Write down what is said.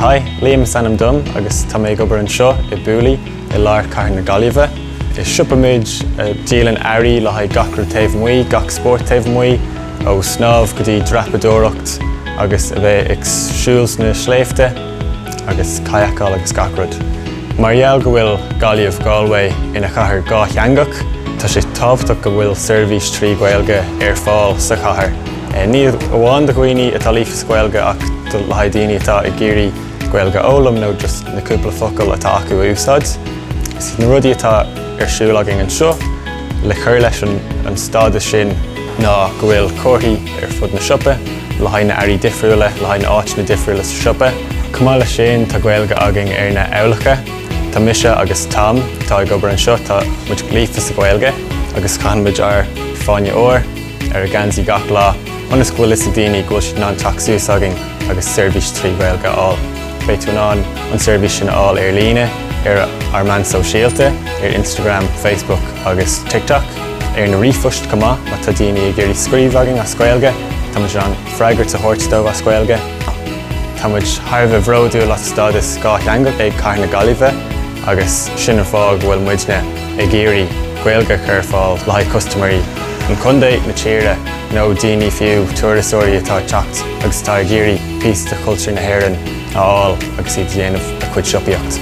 Hi, Liam is ainm dom agus tá mé ag obair anseo i Booley i lár Chathair na Gaillimhe. Is siopa muid a dhíolann earraí le haghaidh gach rud taobh amuigh, gach spórt taobh amuigh, ó snámh go dtí dreapadóireacht agus a bheith ag siúl sna sléibhte agus kayakáil agus gach rud. Mar gheall go bhfuil Gaillimh, Galway, ina chathair dhátheangach, tá sé tábhachtach go bhfuil seirbhís trí Ghaeilge ar fáil sa chathair. ní amháin do dhaoine atá líofa sa Ghaeilge ach le haghaidh daoine atá ag iarraidh Gaeilge a fhoghlaim nó just na cúpla focal atá acu a úsáid. Is na rudaí atá ar siúl againn anseo le cur leis an stádas sin ná go bhfuil comharthaí ar fud na siopa le haghaidh na earraí difriúla, le haghaidh na áiteanna difriúla sa siopa. Chomh maith leis sin tá Gaeilge againn ar na heochracha. Tá mise agus Tom atá ag obair anseo, tá muid líofa sa Ghaeilge agus caitheann muid ár Fáinne Óir. ar ár ngeansaí gach lá ionas go bhfuil a fhios ag daoine go bhfuil siad in ann teacht suas againn agus seirbhís trí Ghaeilge a fháil. Beidh tú in ann an seirbhís sin a fháil ar líne ar ár meáin sóisialta, ar Instagram, Facebook agus TikTok, ar na ríomhphoist chomh maith má tá daoine ag iarraidh scríobh againn as Gaeilge, tá muid in ann freagairt a thabhairt dóibh as Gaeilge. Tá muid thar a bheith bródúil as stádas dhátheangach ag Cathair na Gaillimhe agus sin an fáth go bhfuil muidne, ag iarraidh Gaeilge a chur ar fáil le haghaidh custaiméirí an Chontae, na tíre nó daoine fiú, turasóirí atá ag teacht agus atá ag iarraidh píosa de chultúr na hÉireann a fháil agus iad ag déanamh a cuid siopaíocht.